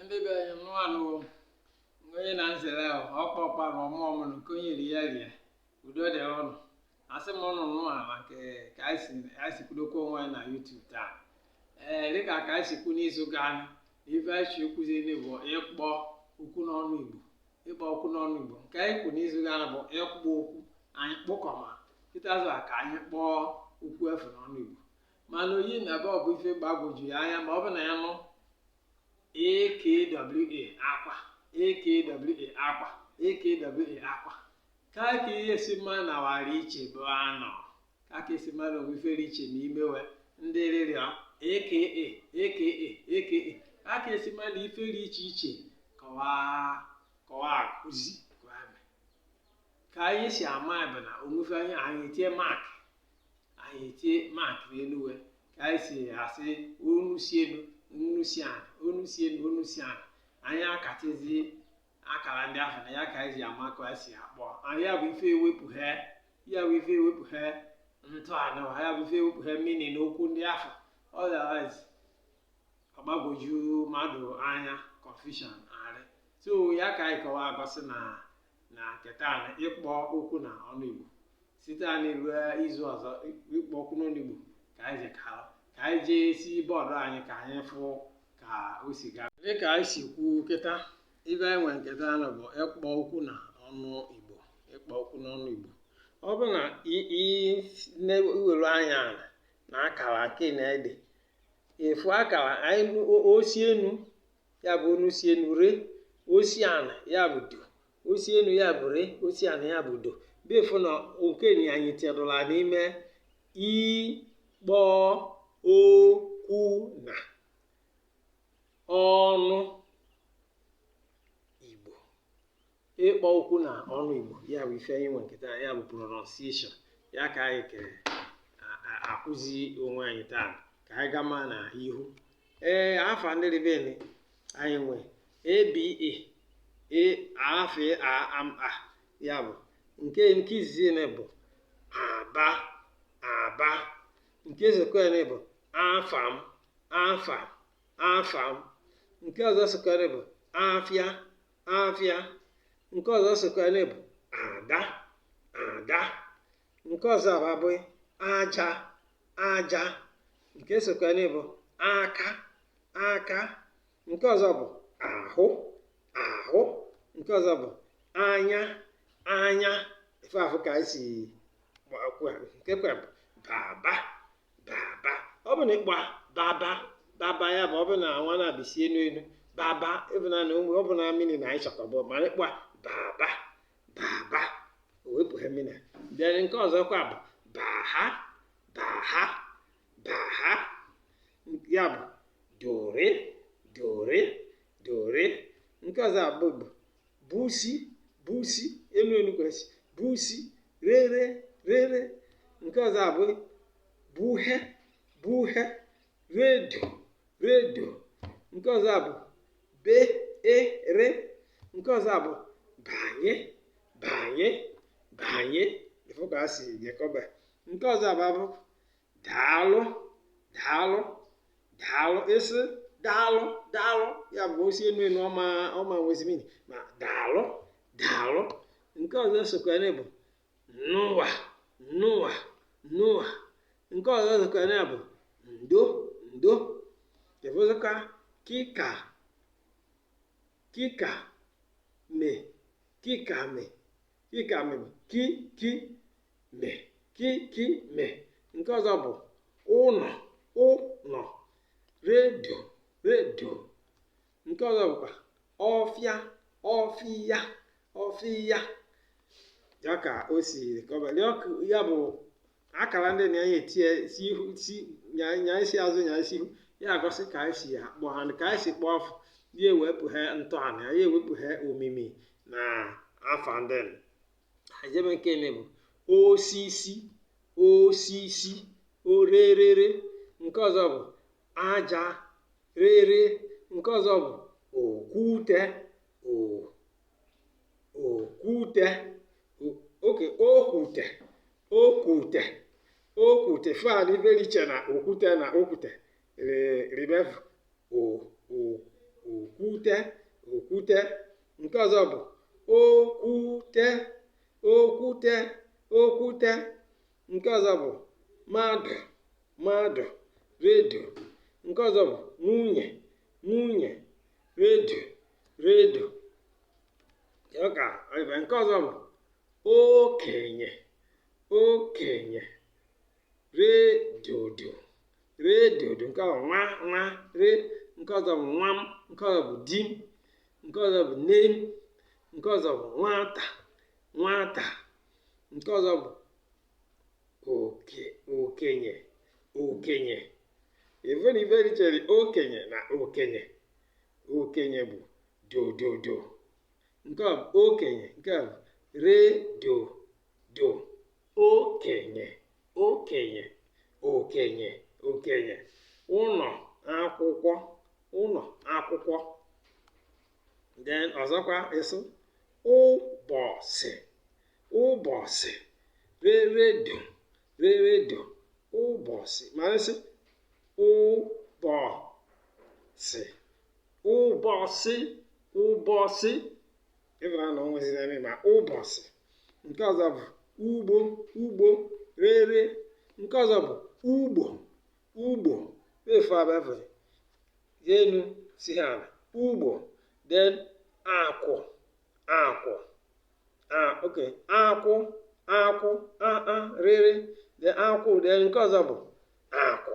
ndị be anyị nnụa nụ o mgbe onye na nzere ahụ ọkpa ọkpa na ọmụ ọmụ na nke onye ri ya rie udo dịrị ụnụ asị m ụnụ nnụa nke ka anyị si anyị si kwudokwa onwe anyị na yutubu taa ee dịka ka anyị si kwu n'izu gaa na ife anyị si akụziri bụ ịkpọ okwu n'ọnụ igbo ịkpọ okwu n'ọnụ igbo nke anyị kwu n'izu gaa na bụ ịkpọ okwu anyị kpụkọma kịta azụ a ka anyị kpọọ okwu afụ n'ọnụ igbo mana o yi na ebe ọ bụ ife gbagwoju ya anya ma ọ bụ na ya nụ akwa akwa akwa akwa ka ka e si ama na wa rị iche bụ anọ ka ka e si ama na o nwe ife rị iche ma imewe ndị rịrị aka aka aka ka ka e si ama na ife rị iche iche kọwaa kọwaa akụzi ka anyị si ama bụ na o nwe ife anyị anyị etie mak anyị etie maakị n'elu wa ka anyị si asị onu si elu onu si ala onu si elu onu si ala anyị akatizi akara ndị ahụ na ya ka anyị ji ama ka anyị si akpọ anyị ya bụ ife ewepụghe ya bụ ife ewepụghe ntọala wa ya bụ ife ewepụghe mmiri na okwu ndị ahụ otherwise ọ gbagwoju mmadụ anya confusion arị so ya ka anyị kọwa egosi na na nke taa na ịkpọ okwu na ọnụ Igbo site na ruo izu ọzọ ịkpọ okwu n'ọnụ Igbo ka anyị jekalụ ka anyị jee si bọọdụ anyị ka anyị fụ ka o si gaa dịka anyị si kwuo kịta ife anyị nwere nke taa nụ bụ ịkpọ okwu na ọnụ Igbo ịkpọ okwu n'ọnụ Igbo ọ bụ na i were anya ala na akara nke na-ede efu akara anyị o si enu ya bụ onu si enu re o si ana ya bụ do o si enu ya bụ re o si ana ya bụ do bifụ na nke ni anyị tinyela n'ime ịkpọ okwu na ọnụ ịkpọ okwu na ọnụ Igbo ya bụ ife anyị nwe nke taa ya bụ pronunciation ya ka anyị ka akụzi onwe anyị taa ka anyị gama na ihu ee afa ndị rị ebe ni anyị nwe aba e afe a am a ya bụ nke nke izizi nụ bụ aba aba nke esokwanụ bụ afam afam afam nke ọzọ sokwanụ bụ afịa afịa nke ọzọ sokwanụ bụ ada ada nke ọzọ abụ aja aja nke sokwanụ bụ aka aka nke ọzọ bụ ahụ ahụ nke ọzọ bụ anya anya ife afụ ka anyị si nke kwa bụ baba baba ọ bụ na ịkpọ baba baba ya bụ ọ bụ na nwa na-abịsi enu enu baba ịbụ na ụmụ ọ bụ na mmiri na anyị chọkọbụ mana ịkpọ baba baba o wepụ ha mmiri bịara nke ọzọkwa bụ baha baha baha ya bụ dore dore dore nke ọzọ abụ bụ busi busi enu enu kwesị busi rere rere nke ọzọ abụ buhe buhe redo redo nke ọzọ abụ be e re nke ọzọ abụ banye banye banye ị fụ ka a si jekọba nke ọzọ abụ abụ daalụ daalụ daalụ ịsị daalụ daalụ ya bụ o si enu enu ọ ma ọ ma nwezi mini ma daalụ daalụ nke ọzọ sokwa ya bụ nụwa nụwa nụwa nke ọzọ sokwa ya bụ ndo ndo nke ọzọkwa kika kika me kika me kika me bụ ki ki me ki ki me nke ọzọ bụ ụnọ ụnọ redo redo nke ọzọ bụkwa ọfịa ọfịa ọfịa ya ka o si kọba ya bụ akara ndị na anyị etinye si ihu si nya nya isi azụ nya isi ihu ya egosi ka anyị si akpọ ha ka anyị si kpọọ fa ya ewepụhe ntọala ya ewepụhe omimi na afa ndị ajebe nke eme bụ osisi osisi ọ rerere nke ọzọ bụ aja rere nke ọzọ bụ okwute okwute oke okwute okwute okwute fa dị iche na okwute na okwute ribev okwute okwute nke ọzọ bụ okwute okwute okwute nke ọzọ bụ mmadụ mmadụ redo nke ọzọ bụ nwunye nwunye redo redo ka nke ọzọ bụ okenye okenye re dodo re dodo nke a bụ nwa nwa re nke ọzọ bụ nwa m nke ọzọ bụ di m nke ọzọ bụ nne m nke ọzọ bụ nwata nwata nke ọzọ bụ okenye okenye even ife richere okenye na okenye okenye bụ dododo nke a bụ okenye nke a bụ re do do okenye okenye okenye okenye ụnọ akwụkwọ ụnọ akwụkwọ then ọzọkwa ịsụ ụbọsị ụbọsị re re do re re do ụbọsị ma ị sị ụbọsị ụbọsị ụbọsị ịbụra na o nweziri eme ma ụbọsị nke ọzọ bụ ugbo ugbo re re nke ọzọ bụ ugbo ugbo efu abịafere ya enu si ha ana ugbo then akwụ akwụ a ok akwụ akwụ a a re re then akwụ then nke ọzọ bụ akwụ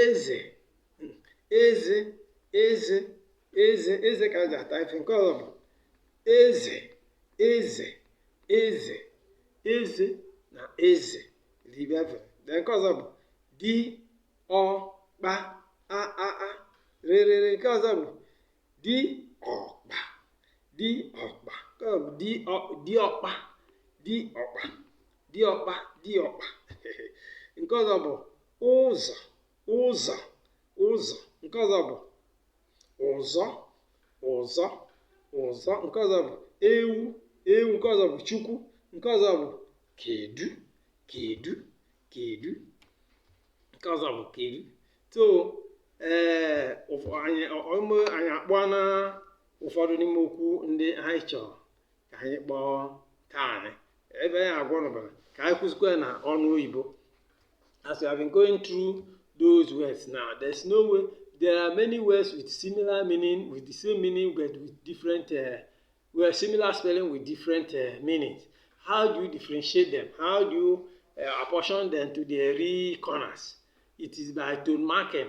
eze eze eze eze eze ka a ji ata ife nke ọzọ bụ eze eze eze eze na eze libia fe de nke ọzọ bụ di ọkpa a a a re re re nke ọzọ bụ di ọkpa di ọkpa nke ọzọ bụ di ọ di ọkpa di ọkpa di ọkpa di ọkpa nke ọzọ bụ ụzọ ụzọ ụzọ nke ọzọ bụ ụzọ ụzọ ụzọ nke ọzọ bụ ewu ewu nke ọzọ bụ chukwu nke ọzọ bụ kedu kedu kedu nke ọzọ bụ kedu so ee anyị akpọọna ụfọdụ n'ime okwu ndị anyị chọrọ ka anyị kpọọ kaanị ebe anyị agwa ụnụ bara ka anyị kwụzikwa ya na ọnụ oyibo as we have been going through those words now there's no way there are many words with similar meaning with the same meaning but with different uh, well similar spelling with different uh, meanings how do you differentiate them how do you uh, apportion them to the three corners it is by tone marking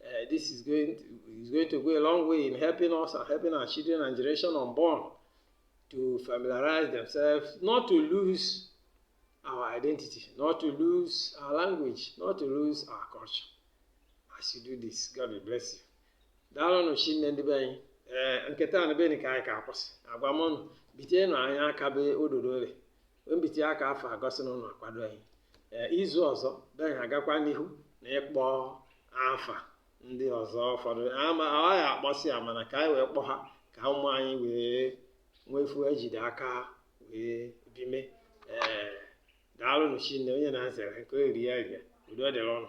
Uh, this is going to, is going to go a long way in helping us and helping our children and generation unborn to familiarize themselves, not to lose our identity, not to lose our language, not to lose our culture. As you do this, God will bless you. daalụnụ shinne ndị be anyị ee eh, nke taa n'ebe ka anyị ga-akwụsị agwa m ụnụ bitenụ anyị aka ebe ododo ole mbite aka afụ agosi na ụnụ akwado anyị ee izu ọzọ be anyị agakwa n'ihu na ịkpọ afa ndị ọzọ ụfọdụ ama ọ gaghị akpọsị ya mana ka anyị wee kpọ ha ka ụmụ anyị wee nwee ife e jide aka wee bime ee daalụnụ shinne onye na-azere nke o eri ya rie udo dịrị ụnụ